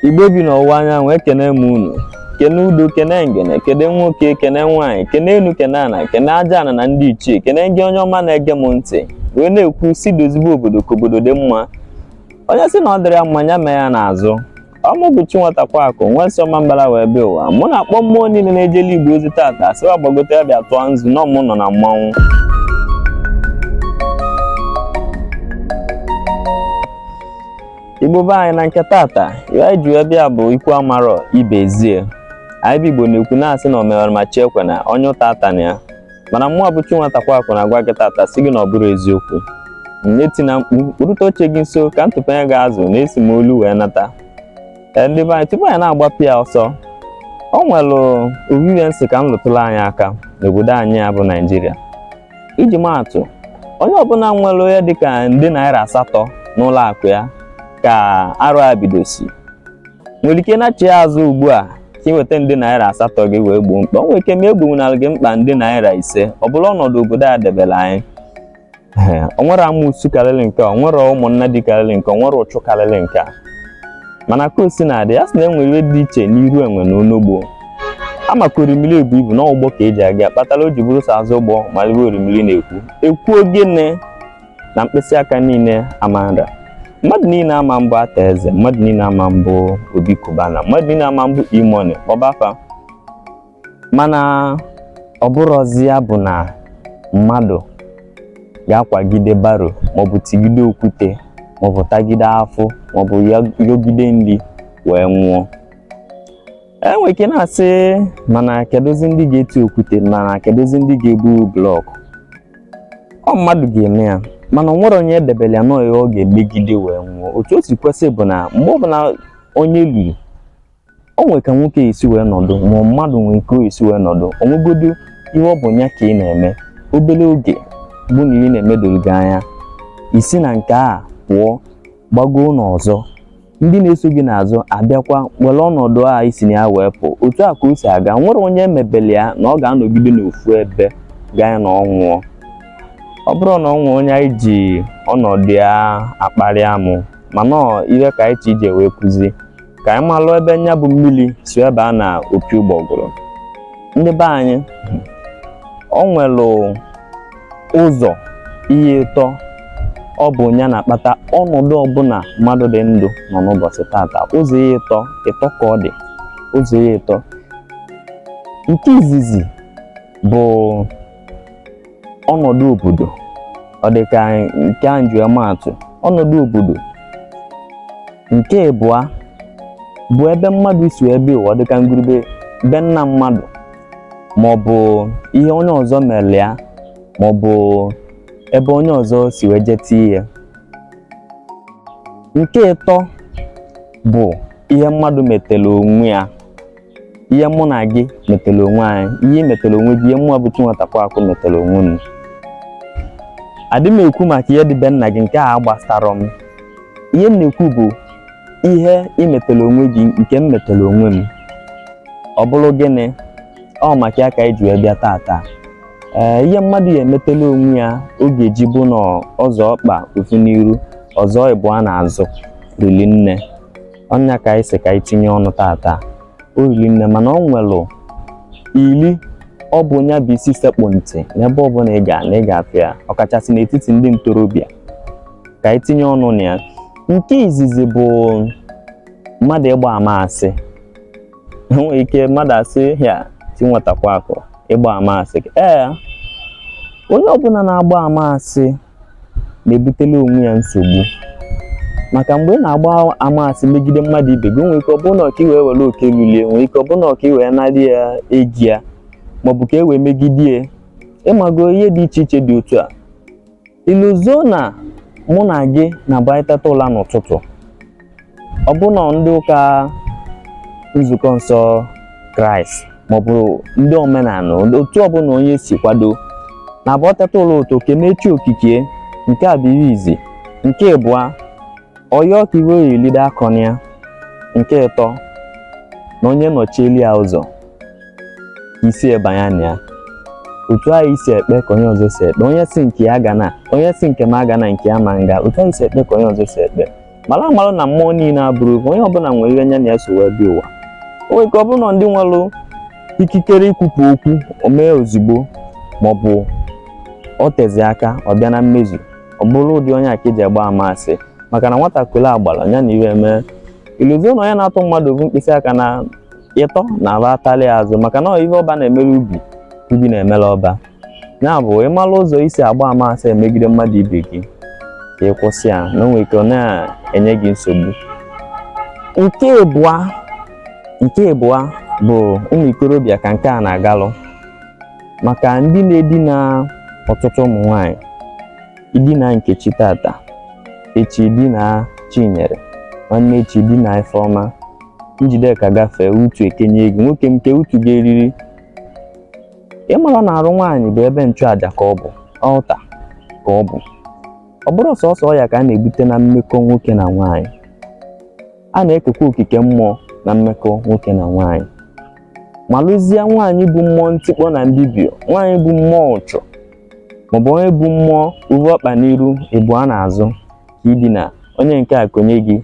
igbo bi n'ọwụwa anyanwụ ekene m unu kene udo kene ngene kene nwoke kene nwaanyị kene enu kene ana kene aja ana na ndị ichie kene gị onye ọma na-ege m ntị wee na-ekwu sị dozibe obodo ka obodo dị mma onye sị na ọ dịrị ya mma ya mee ya n'azụ ọ mụ bụ chi nwatakwa akụ nwa si ọmambala wee bịa ụwa mụ na-akpọ mmụọ niile na-ejelu igbo ozi tata sị wa gbagote ya bịa tụọ nzu na ọmụ nọ na mmanwụ igbo be anyị na nke tata ihe anyị ji wee bịa bụ ikwu amarọ ibe ezie anyị bụ igbo na-ekwu na-asị na omewara ma chi ekwena onye ụta atana ya mana mụ bụ chi nwatakwa akụ na-agwa gị tata sị gị na ọ bụrụ eziokwu nneti na mkpu kpụrụta oche gị nso ka m tụpanye gị azụ na esi m olu wee nata ee ndị be anyị tupu anyị na-agbapụ ya ọsọ o nwere ofu ife m sị ka m lụtụrụ anyị aka n'obodo anyị a bụ naijiria iji maa atụ onye ọbụla nwere ihe dịka nde naira asatọ n'ụlọ akụ ya ka arọ a bidosi nwere ike na-achị ya azụ ugbu a ka ị weta nde naira asatọ gị wee gboo mkpa o nwere ike ma egbonwunara gị mkpa nde naira ise ọ bụlụ ọnọdụ obodo a debere anyị Ee, o nwere amụsu karịrị nke a, o nwere ụmụnnadị karịrị nke a, o nwere uchu karịrị nke a mana ka o si na-adị ya sị na enwere ihe dị iche n'iru enwe na onogbo a ma ka orimiri ebu ibu na ọ bụ ụgbọ ka eji aga kpatara o ji bụrụ sọ azụ ụgbọ ma ife orimiri na-ekwu ekwu ogene na mkpịsị aka niile ama nra mmadụ niile ama mbụ arthur eze mmadụ niile ama mbụ obi cubana mmadụ niile ama mbụ e-money kpọba fa mana ọ bụrụzi ya bụ na mmadụ ga-akwagide barrow maọbụ tigide okwute maọbụ tagide afụfụ maọbụ yọgide nri wee nwụọ enwere ike na-asị mana kedụzi ndị ga-eti okwute mana kedụzi ndị ga-ebu blọk ọ mmadụ ga-eme ya mana ọ nwere onye edebere ya na ọ ya ọ ga-emegide wee nwụọ otu o si kwesị bụ na mgbe ọbụla onye luru o nwere ka nwoke esi wee nọdụ ma mmadụ nwee ike esi wee nọdụ o nwegodu ihe ọ bụ ya ka ị na-eme obere oge bụ na ihe ị na-eme doro gị anya i si na nke a pụọ gbagoo n'ọzọ ndị na-eso gị n'azụ abịakwa were ọnọdụ a i si na ya wee pụ otu a ka o si aga nwere onye emebele ya na ọ ga-anọgide n'ofu ebe gaa na ọ nwụọ ọ bụrụ na ọ nwụọ onye anyị ji ọnọdụ ya akparị amụ mana ọ ihe ka anyị chi ije wee kụzi ka anyị malụ ebe nya bụ mmiri si wee baa na opi ụgbọgụrụ ndị be anyị o nwelu ụzọ ihe ịtọ ọ bụ ya na-akpata ọnọdụ ọbụla mmadụ dị ndụ nọ n'ụbọchị tata ụzọ ihe ịtọ ịtọ ka ọ dị ụzọ ihe ịtọ nke izizi bụ ọnọdụ obodo ọ dị ka nke a m ji ama atụ ọnọdụ obodo nke ịbụa bụ ebe mmadụ si bịa ụwa dịka ngwuru be be nna mmadụ ma ọ bụ ihe onye ọzọ mere ya ma ọ bụ ebe onye ọzọ si wee jee tie ya nke ịtọ bụ ihe mmadụ metela onwe ya ihe mụ na gị metela onwe anyị ihe ị metela onwe gị ihe mụ bụ Chinwatakwa Akụ metela onwe m adị m ekwu maka ihe dị be nna gị nke a agbasarọ m ihe m na-ekwu bụ ihe i metela onwe gị nke m metela onwe m ọ bụrụ gịnị ọ maka ya ka anyị ji wee bịa tata ee ihe mmadụ ya emetela onwe ya ọ ga-eji bụ na ọ zọọ ọkpa ofu n'iru ọ zọọ ịbụa n'azụ rili nne ọ nya ka anyị si ka anyị tinye ọnụ tata o rili nne mana ọ nwelụ ili ọ bụ nya bụ isi sekpụ ntị n'ebe ọbụla ị ga na ị ga-afụ ya ọkachasị n'etiti ndị ntorobịa ka anyị tinye ọnụ na ya nke izizi bụ mmadụ ịgba ama asị enwere ike mmadụ asị ya Chinwatakwa Akụ ịgba ama asị ee onye ọbụla na-agba ama asị na-ebutela onwe ya nsogbu maka mgbe ị na-agba ama asị megide mmadụ ibe gị nwere ike ọ bụrụ na ọ ka i wee were oke lulu ya nwere ike ọ bụrụ na ọ ka i wee narị ya ego ya maọbụ ka e wee megide ya ị mago ihe dị iche iche dị otu a I lozo na mụ na gị na-abụ anyị teta ụla n'ụtụtụ ọbụna ndị ụka nzukọ nsọ kraịst maọbụ ndị omenala otu ọbụla onye si kwado na-abụ e teta ụla ụtụtụ kenee chi okike nke a bụ ihe izizi nke ịbụa ọ yọọ ka ihe ọ ya-eli de akọna ya nke ịtọ na onye nọchieli ya ụzọ isi ebanya na ya otu anyị si ekpe ka onye ọzọ si ekpe onye sị nke ya gana onye sị nke m agana nke ya ama aga otu anyị si ekpe ka onye ọzọ si ekpe mana amarọ na mmụọ niile abụrọ ofu onye ọbụla nwere ihe nya na ya so wee bịa ụwa o nwere ike ọ bụrụ na ndị nwere ikikere ikwupụ okwu o mee ozugbo maọbụ ọ tezi aka ọ bịa na mmezu ọ bụrụ ụdị onye a ka eji agba ama asị maka na nwatakịrị a gbara ya na iwe mee iluzie na onye na-atụ mmadụ ofu mkpịsị aka na ịtọ na aba atalị azụ maka na ihe ọba na-emere ubi ubi na-emere ọba ya bụ ị mara ụzọ i si agba ama asị emegide mmadụ ibe gị ka ị kwụsị ya na o nwe ike ọ na-enye gị nsogbu nke ịbụa nke ịbụa bụ ụmụ ikorobịa ka nke a na-agalụ maka ndị na-edina ọtụtụ ụmụ nwanyị i dina nkechi tata echi i dina chinyere nwanne echi i dina ifeọma njideka gafee utu ekenye gị nwoke nke utu ga-eriri ị mara na arụ nwaanyị bụ ebe nchụaja ka ọ bụ altar ka ọ bụ ọ bụrọ sọsọ ọya ka a na-ebute na mmekọ nwoke na nwaanyị a na-ekekwa okike mmụọ na mmekọ nwoke na nwaanyị malụzie nwaanyị bu mmụọ ntikpọ na mbibi o nwaanyị bu mmụọ uchu maọbụ onye bu mmụọ ovu ọkpa n'iru ebu ya n'azụ ka i dina onye nke a konye gị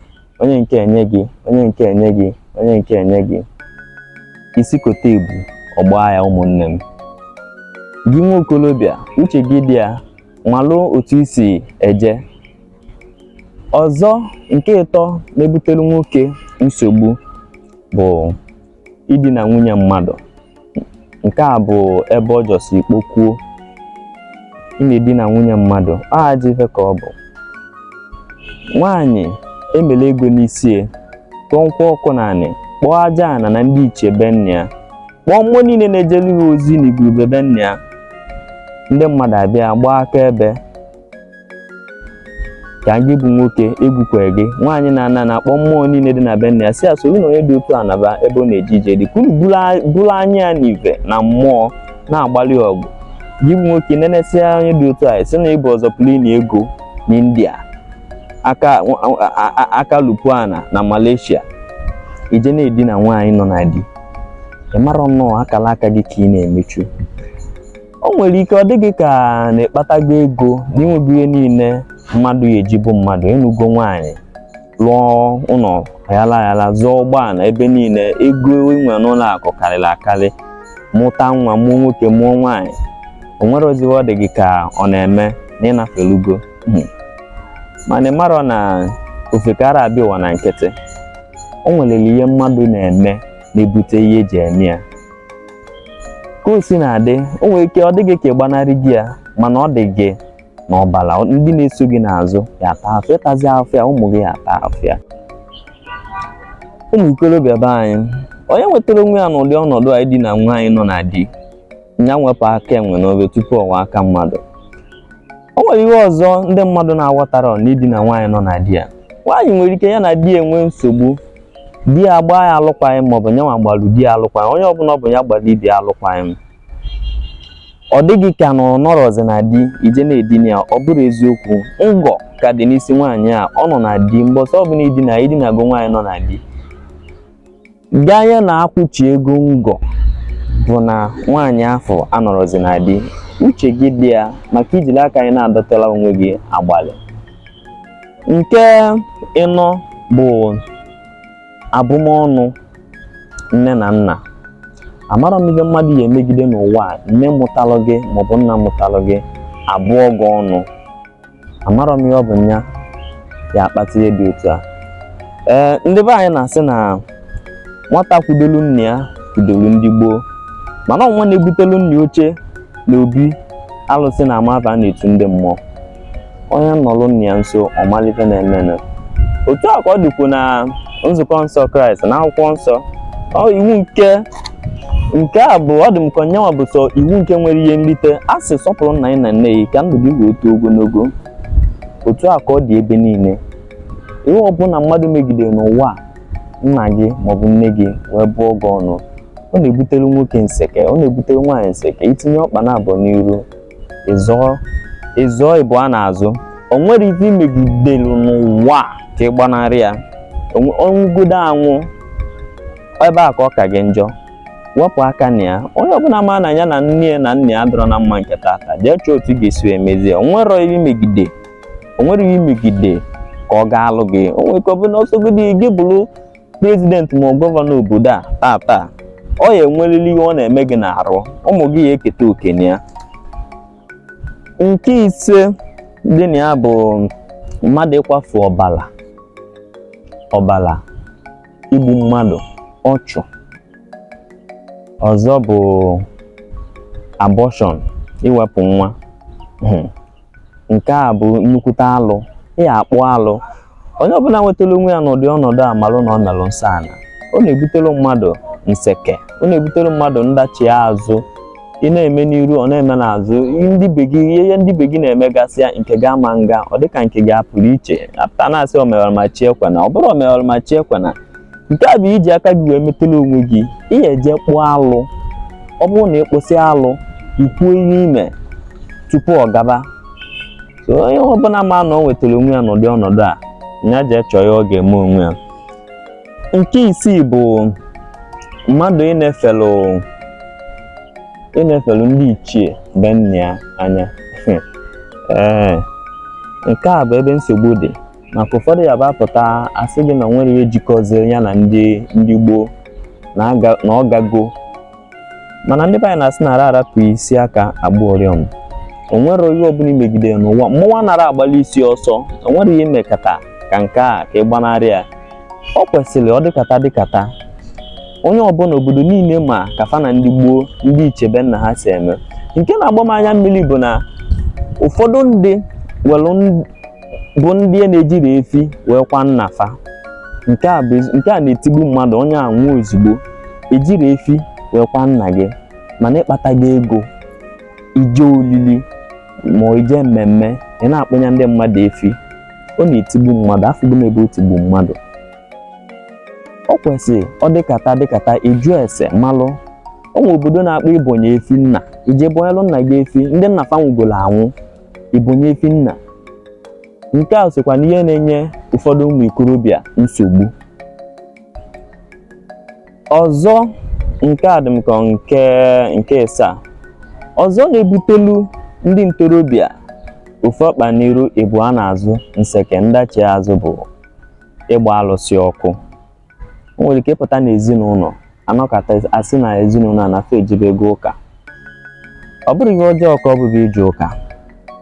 onye nke enye gị onye nke enye gị onye nke enye gị isi kote ebu ọ gbaa ya ụmụnne m gị nwa okolobịa uche gị dị ya malụ otu i si eje ọzọ nke ịtọ na-ebutere nwoke nsogbu bụ idina nwunye mmadụ nke a bụ ebe ọ jọsi kpokwuo ị na-edina nwunye mmadụ ọ ajọ ife ka ọ bụ nwaanyị e mere ego n'isi ya tụọ nkwụ ọkụ n'anị kpọọ aja ana na ndị ichie be nna ya kpọọ mmụọ niile na-ejelu ya ozi na ngwuru be be nna ya ndị mmadụ abịa gbaa akaebe ka gị bụ nwoke egwukwere gị nwaanyị na-ana na-akpọ mmụọ niile dị na be nna ya sị ya soro na onye dị otu a naba ebe ọ na-eje ije dị kwuru buru anya ya n'ive na mmụọ na-agbalị ọgụ gị bụ nwoke nenesịa onye dị otu a sị na ị bụ ọzọ plin ego n'india aka lupuana na malaysia i je na-edina nwaanyị nọ na di ị mara na ọ akala aka gị ka ị na-emechu o nwere ike ọ dị gị ka na ị kpatago ego na i nwego ihe niile mmadụ ya-eji bụ mmadụ ị nụgo nwaanyị lụọ ụlọ ayala ayala zụọ ụgbọala ebe niile ego i nwe n'ụlọ akụ karịrị akarị mụta nwa mụọ nwoke mụọ nwaanyị o nwere oziwe ọ dị gị ka ọ na-eme na ị nafelugo hmm. mana ị marọ na ofekara abịa ụwa na nkịtị o nwelere ihe mmadụ na-eme na-ebute ihe e ji eme ya ka o si na-adị o nwere ike ọ dị gị ka ị gbanarịgo ya mana ọ dị gị n'ọbara ndị na-eso gị n'azụ ya-ata afụfụ ị tazi afụfụ ya ụmụ gị ya-ata afụfụ ya ụmụ ikorobịa be anyị onye nwetara onwe ya n'ụdị ọnọdụ a idina nwaanyị nọ na di ya nwepụ aka enwe n'ofe tupu ọ wọọ aka mmadụ o nwere ihe ọzọ ndị mmadụ na-aghọtarọ n'idina nwaanyị nọ na di ya nwaanyị nwere ike ya na di enwe nsogbu di ya gbaa ya alụkwaghịm maọbụ nyanwa gbalụ di ya alụkwaghịm onye ọbụla ọ bụ ya gbalụ ibe ya alụkwaghịm ọ dị gị ka na ọ nọrọzi na di i je na-edina ya ọ bụrọ eziokwu ngọ ka dị n'isi nwaanyị a ọ nọ na di mbọsị ọbụla i dina i dinago nwaanyị nọ na di ganye na a kwụchi ego ngọ bụ na nwaanyị afụ anọrọzi na di uche gị dị ya maka i jiri aka gị na-adọtala onwe gị agbalị nke ịnọ bụ abụmọnụ nne na nna amarọ m ihe mmadụ ya emegide n'ụwa a nne mụtalụ gị maọbụ nna mụtalụ gị abụọ gị ọnụ amarọ m ihe ọ bụ nya ya akpata ihe dị otu a ee ndị be anyị na-asị na nwata kwudolu nna ya kwudolu ndị gboo mana ọ nwa na-ebutelu nna oche n'obi alụsị na-ama ava a na-etu ndị mmụọ onye nọlụ nna ya nso ọ malụ ife na-emenụ otu a ka ọ dịkwu na nzukọ nsọ kraịst n'akwụkwọ nsọ iwu nke nke a bụ ọ dị m ka nyanwa bụ sọ iwu nke nwere ihe nlite a sị sọpụrụ nna gị na nne gị ka ndụ gị wee too ogologo otu a ka ọ dị ebe niile ihe ọbụla mmadụ megidere n'ụwa nna gị maọbụ nne gị wee bụọ gị ọnụ ọ na-ebutere nwoke nseke ọ na-ebutere nwaanyị nseke i tinye ọkpa naabọ n'iru ị zọọ ị zọọ ịbụa n'azụ o nwerọ ife i megidelu n'ụwa ka ị gbanarị ya ọ nwụgodo anwụ ebe a ka ọ ka gị njọ wepụ aka na ya onye ọbụla ma na ya na nne ya na nna ya adịrọ na mma nke tata jee chọọ otu ị ga-esi emezie o nwerọ ihe i megide o nwerọ ihe i megide ka ọ gaalụ gị o nwerọ ike ọbụna ọ sọgodi gị bụrụ prezident ma gọvanọ obodo a taa taa ọ ya enwerịrị ihe ọ na-eme gị n'arụ ụmụ gị ya eketa oke na ya nke ise dị na ya bụ mmadụ ịkwafu ọbala ọbala igbu mmadụ ọchụ ọzọ bụ abortion iwepụ nwa hmm. nke a bụ nnukwute alụ ị ya akpụ alụ onye ọbụla nwetara onwe ya n'ụdị ọnọdụ a malụ na ọ melụ nsọ ana ọ na-ebutere mmadụ nseke ọ na-ebutere mmadụ ndachi azụ ị na-eme n'iru ọ na-eme n'azụ ndị ibe gị ihe ndị ibe gị na-eme gasịa nke gị ama na-aga ọ dịka nke gị a pụrụ iche a pụta a na-asị omewala ma chi ekwena ọ bụrọ omewala ma chi ekwena nke a bụ iji aka gị wee metala onwe gị ị ga-eje kpụọ alụ ọ bụrụ na ị kpụsịa alụ i kwuo ihe i me tupu ọ gaba so onye ọbụla ma na ọ nwetara onwe ya n'ụdị ọnọdụ a ya jee chọọ ihe ọ ga-eme onwe ya nke isii bụ mmadụ ịnefelu ịnefelu ndị ichie be nna ya anya ee nke a bụ ebe nsogbu dị maka ụfọdụ ya bụ apụta asị gị na nwere ihe jikọziri ya na ndị ndị gboo na ọ gago mana ndị be anyị na-asị anara arapụ isi aka agba ụriọm onwere ihe ọbụla imegide n'ụwa mmụọ nara agbalị isi ọsọ onwere ihe imekata ka nke a ka ị gbanarị ya ọ kwesịrị ọ dịkata dịkata onye ọbụla obodo niile ma ka fa na ndị gboo ndị ichie be nna ha si eme nke na-agba m anya mmiri bụ na ụfọdụ ndị welu bụ ndị a na-ejiri efi wee kwa nna fa nke a bụ ezi- nke a na-etigbu mmadụ onye a nwụọ ozugbo ejiri efi wee kwa nna gị mana ịkpata gị ego ije olili ma ọ ije mmemme ị na-akpụnye ndị mmadụ efi ọ na-etigbu mmadụ afụgo m ebe o tigbu mmadụ ọ kwesịrị ọ dịkata dịkata ajụ ese malụ o nwee obodo na-akpọ ibonye efi nna ije bonyelụ nna gị efi ndị nna fa nwụgolo anwụ ibonye efi nna nke a sokwa n'ihe na-enye ụfọdụ ụmụ ikorobịa nsogbu ọzọ nke a dị m ka nke nke ịsaa ọzọ na-ebutelu ndị ntorobịa ofu ọkpa n'iru ịbụa n'azụ nseke ndachi azụ bụ ịgba alụsị ọkụ o nwere ike ịpụta n'ezinụlọ anọkata asị na ezinụlọ a na fa ejebego ụka ọ bụrụ ihe ọjọọ ka ọ bụ bụ ije ụka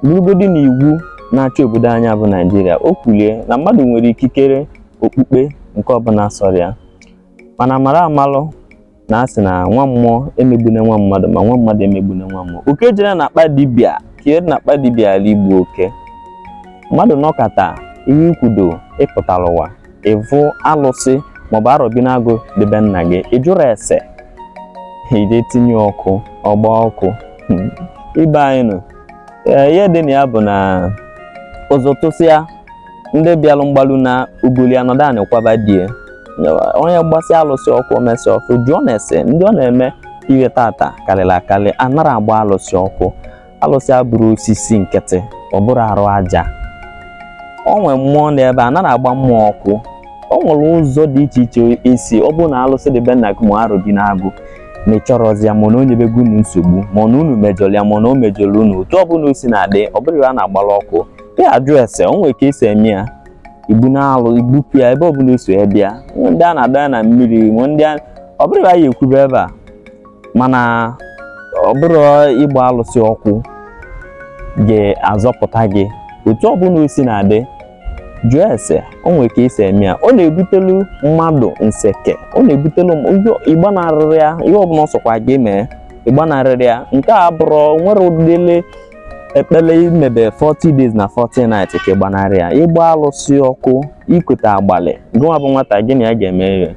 bụrụgodị na iwu na-achị obodo anyị bụ naijiria o kwulie na mmadụ nwere ikikere okpukpe nke ọbụla sọrọ ya mana mara amalụ na asị na nwa mmụọ emegbune nwa mmadụ ma nwa mmadụ emegbune nwa mmụọ oke jere na akpa dibịa ka ihe na akpa dibịa ghala igbu oke mmadụ nọkata ihe ikwudo ịpụtara ụwa ịvụ alụsị maọbụ arọbinagụ dị be nna gị ịjụrụ ese ije tinye ọkụ ọgba ọkụ hmm. ibe anyị nụ ihe dị na ya bụ na ụzụ tụsịa ndị bịalụ mgbalu naa ogoli anọdụ anị kwaba di ya onye gbasịa alụsị ọkụ omesịa ọkụ jụọnụ ese ndị ọ na-eme ihe tata karịrị akarị anara agba alụsị ọkụ alụsị abụrụ osisi nkịtị ọ bụrụ arụ aja o nwere mmụọ n'ebe a nara agba mmụọ ọkụ o nwere ụzọ dị iche iche esi ọ bụrụ na alụsị dị be nna gị ma arọbinagụ na ịchọrọzi ya ma na o nyebego unu nsogbu ma na unu mejọrọ ya ma na o mejọrọ unu otu ọ bụla o si na-adị ọ bụrụ na a na-agbara ọkụ ị ya-ajụ ese o nwere ka esi eme ya ibunalụ ibupụ ya ebe ọbụla o si bịa nwee ndị a na-adọ ya na mmiri nwee ndị a ọ bụrụ ya ekwube ebe a mana ọ bụrụ ịgba alụsị ọkụ ga-azọpụta gị otu ọbụla osi na-adị jụọ ese o nwere ka esi eme ya ọ na-ebutelu mmadụ nseke ọ na-ebutelu ịgbanarịrị ya ihe ọbụla ọ sọkwa gị mee ịgbanarịrị ya nke a bụrụ nwere ụdịle ekpele imebe 40 days na 40 nights ka ịgbanarị ya ịgba alụsị ọkụ ikute agbalị gụnwa bụ nwata gị na ya ga-eme ihe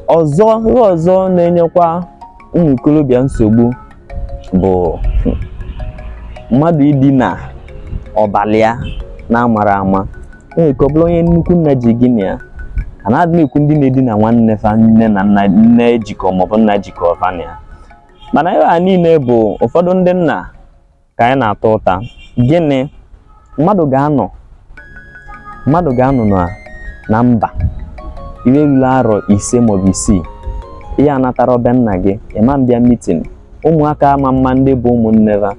ọzọ ihe ọzọ na-enyekwa ụmụ ikorobịa nsogbu bụ mmadụ idina ọbala ya n'amarọ ama nwere ike ọ bụrụ onye nnukwu nna ji gị na ya a na-adị m ekwu ndị na-edina nwanne fa nne na nna nne jikọ maọbụ nna jikọ fa na ya mana ihe a niile bụ ụfọdụ ndị nna ka anyị na-ata ụta gịnị mmadụ ga-anọ mmadụ ga-anọ na na mba ihe ruru arọ ise maọbụ isii ị ya-anatarọ be nna gị ị ma na-abịa mitin ụmụaka ama ama ndị bụ ụmụnne ha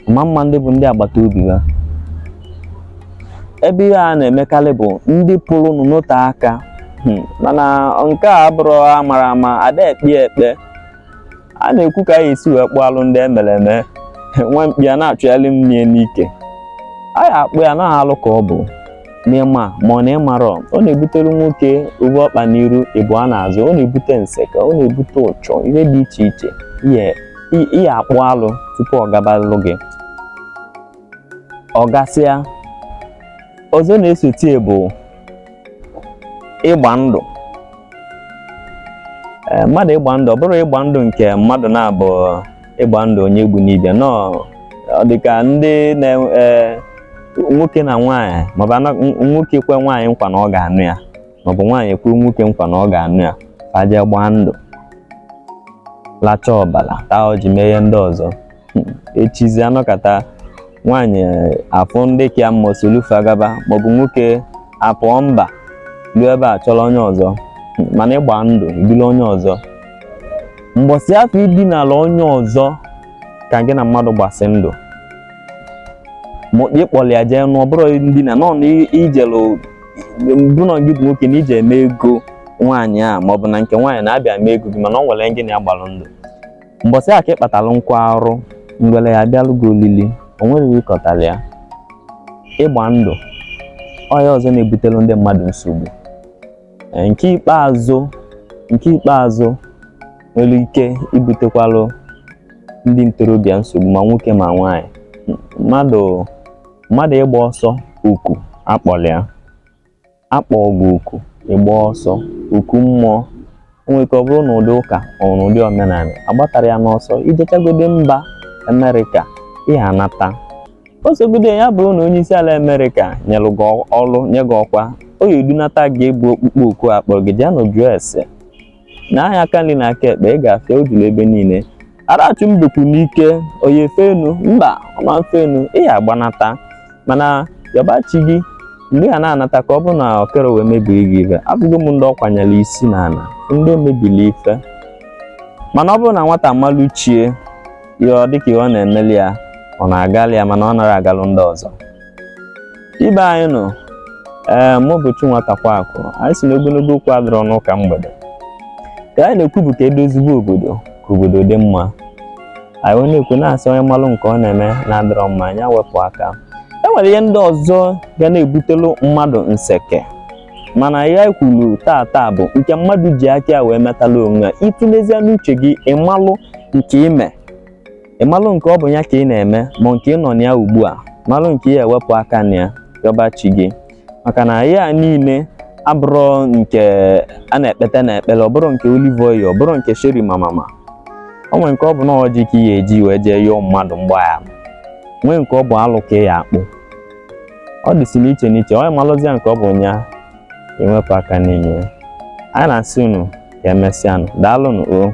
ama ama ndị bụ ndị agbata obi ha ebe ihe a na-emekarị bụ ndị pụrụ n'ote aka hmm, mana nke a bụrụ amara ama ada ekpe ekpe a na-ekwu ka a ya-esi wee kpụọ alụ ndị emere eme nwa mkpi a na-achụgharị mmiri n'ike a ya-akpụ ya na alụ ka ọ bụ n'ịma ma ọ na ịmarọ ọ na-ebutere nwoke obu ọkpa n'iru ibu ya n'azụ ọ na-ebute nseka ọ na-ebute uchu ihe dị iche iche ị ya-akpụ alụ tupu ọ gabalụ gị ọ gasịa ọzọ na-esote bụ ịgba ndụ eh, mmadụ ịgba ndụ ọ bụrọ ịgba ndụ nke mmadụ naabọ ịgba ndụ onye egbuna ibe ya no ọ dị ka ndị na eh, nwoke na nwaanyị maọbụ ana- n- nwoke kwe nwaanyị nkwa na ọ ga-anụ ya maọbụ nwaanyị kwe nwoke nkwa na ọ ga-anụ ya fa ejee gbaa ndụ lachaa ọbala taa ọjị mee ihe ndị ọzọ echizi anọkata nwaanyị afụ ndị ka ya mma solu fa gaba maọbụ nwoke apụọ mba ruo ebe a chọrọ onye ọzọ mana ịgba ndụ ibili onye ọzọ mgbọsị afụ idinala onye ọzọ ka gị na mmadụ gbasị ndụ ịkpọrọ ya jee nụọ bụrụ ndina nọ na ijelu bụrụ gị bụ nwoke na ije eme ego nwaanyị a maọbụ na nke nwaanyị na-abịa mee ego gị mana o nwere gị na ya gbalụ ndụ mbọsị a ka ị kpatara nkụ arụrụ ngwere ya-abịalụ gị olili o nweghị ịkọtara ya ịgba ndụ ọya ọzọ na-ebutelu ndị mmadụ nsogbu Ee, nke ikpeazụ nke ikpeazụ nwere ike ibutekwalụ ndị ntorobịa nsogbu ma nwoke ma nwaanyị M- mmadụ mmadụ ịgba ọsọ oku akpọrọ ya akpọ gị oku ịgba ọsọ oku mmụọ nwere ike ọ bụrụ na ụdị ụka ọ na ụdị omenala agbatarọ ya n'ọsọ ijechagode mba amerịka ị ya-anata ọ sọgode ya bụrụ na onye isi ala amerịka nyelụ gị ọrụ nye gị ọkwa ọ ya-edunata gị bụ ọkpụkpọ oku akpọrọ gị jee na jụọ ese na anya aka nri na aka ekpe ị ga-afụ ya o juru ebe niile arachu mbekwu n'ike ọ ya efe enu mba ọ ma efe enu ị ya agbanata mana yọba chi gị mgbe ha na-anata ka ọ bụ na okere wee mebiri gị ife afụgo m ndị ọ kwanyere isi na ana ndị mebiri ife mana ọ bụrụ na nwata malụ chi ya ọ dịka ihe ọ na-emeli ya ọ na-agalụ ya mana ọ narọ agalụ ndị ọzọ ibe anyị nọ ee mụ bụ Chinwata Kwakụ anyị sị n'ogologo okwu adịrọ n'ụka mgbede ka anyị na-ekwu bụ ka edozigbo obodo ka obodo dị mma anyị wee na-ekwu na-asị onye malụ nke ọ na-eme na-adịrọ mma nya wepụ aka e nwere ihe ndị ọzọ ga na-ebutelu mmadụ nseke mana ya kwuru taa taa bụ nke mmadụ ji aka ya wee metala onwe ya ị tulezie n'uche gị ị malụ nke ị me ị malụ nke ọ bụ ya ka ị na-eme ma nke ị nọ na ya ugbu a malụ nke ya ewepụ aka na ya yọba chi gị maka na ya niile abụrọ nke a na-ekpete na ekpele ọ bụrọ nke olive oil ọ bụrọ nke sheri mamama o nwere nke ọ bụ na ọjị ka ị ya eji wee jee yọọ mmadụ mgbaghara nwee nke ọ bụ alụ ka ị ya akpụ ọ dịsị n'iche n'iche onye malụzia nke ọ bụ nya ewepụ aka n'ime ya anyị na-asị unu ka emesịanụ daalụnụ o